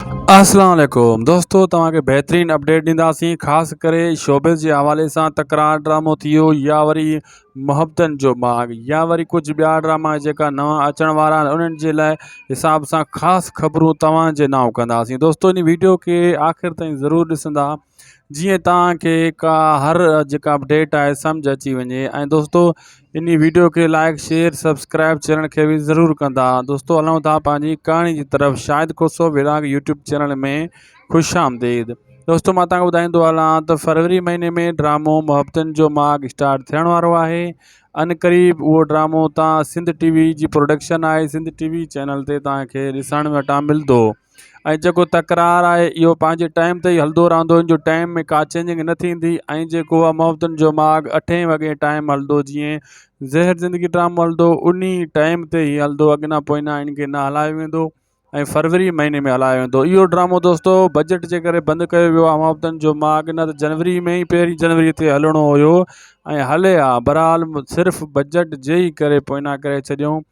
السلام عليڪم دوستو توهان کي بهترين اپڊيٽ ڏينداسين خاص ڪري شوبز جي حوالي سان تڪرار ڊرامو ٿيو يا وري محبتن جو ماڳ يا وري ڪجهه ٻيا ڊراما جيڪا نوان اچڻ وارا آهن انهن جي لاء حساب سان خاص خبرون توهان جي نانء ڪنداسين دوستو ان ويڊيو کي آخر تائين ضرور ڏسندا جيئن توهان کي ڪا هر جيڪا به ڊيٽ آهي سمجھ اچي وڃي ۽ دوستو اني ويڊيو کي لائڪ شيئر سبسڪرائب چينل کي به ضرور ڪندا دوستو هلون ٿا پنهنجي ڪهاڻي جي طرف شاهد کوسو وراگ يوٽيوب چينل ۾ خوش آمديد دوستو مان توهان کي ٻڌائيندو هلان ته فروري مهيني ۾ ڊرامو محبتن جو ماڳ اسٽارٽ ٿيڻ وارو آهي ان قريب اهو ڊرامو تان سنڌ ٽي وي جي پروڊڪشن آهي سنڌ ٽي وي چينل تي توهان کي ڏسڻ وٽان ملندو ۽ جيڪو تڪرار آهي اهو پنهنجي ٽائيم تي ئي هلندو رهندو ان جو ٽائيم ۾ ڪا چينجنگ نه ٿيندي ۽ جيڪو آهي محبتن جو ماڳ اٺين وڳي ٽائيم هلندو جيئن زهر زندگي ڊرامو هلندو هو انهي ٽائيم تي هي هلندو اڳينا پوئينا ان کي نه هلايو ويندو ۽ فروري مهيني ۾ هلايو ويندو اهو ڊرامو دوستو بجيٽ جي ڪري بند ڪيو ويو آهي محبتن جو ماڳ نه ته جنوري ۾ ئي پهرين جنوري تي هلڻو هيو ۽ هلي ها برحال صرف بجيٽ جي ئي ڪري پوئينا ڪري ڇڏيون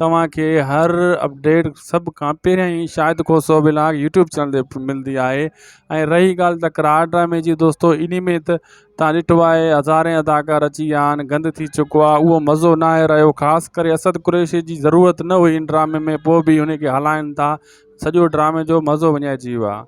توهان کي هر اپڊيٽ سڀ کان پهريان ئي Shahid Khoso vlog YouTube channel تي ملندي آهي ۽ رهي ڳالهه تڪرار ڊرامي جي دوستو ان ۾ ته تان ڏٺو آهي هزارين اداڪار اچي ويا آهن گند ٿي چڪو آهي اهو مزو نه آهي رهيو خاص ڪري اسد قريشي جي ضرورت نه هئي ان ڊرامي ۾ پوء به ان کي هلائن ٿا سڄو ڊرامي جو مزو وڃائجي ويو آهي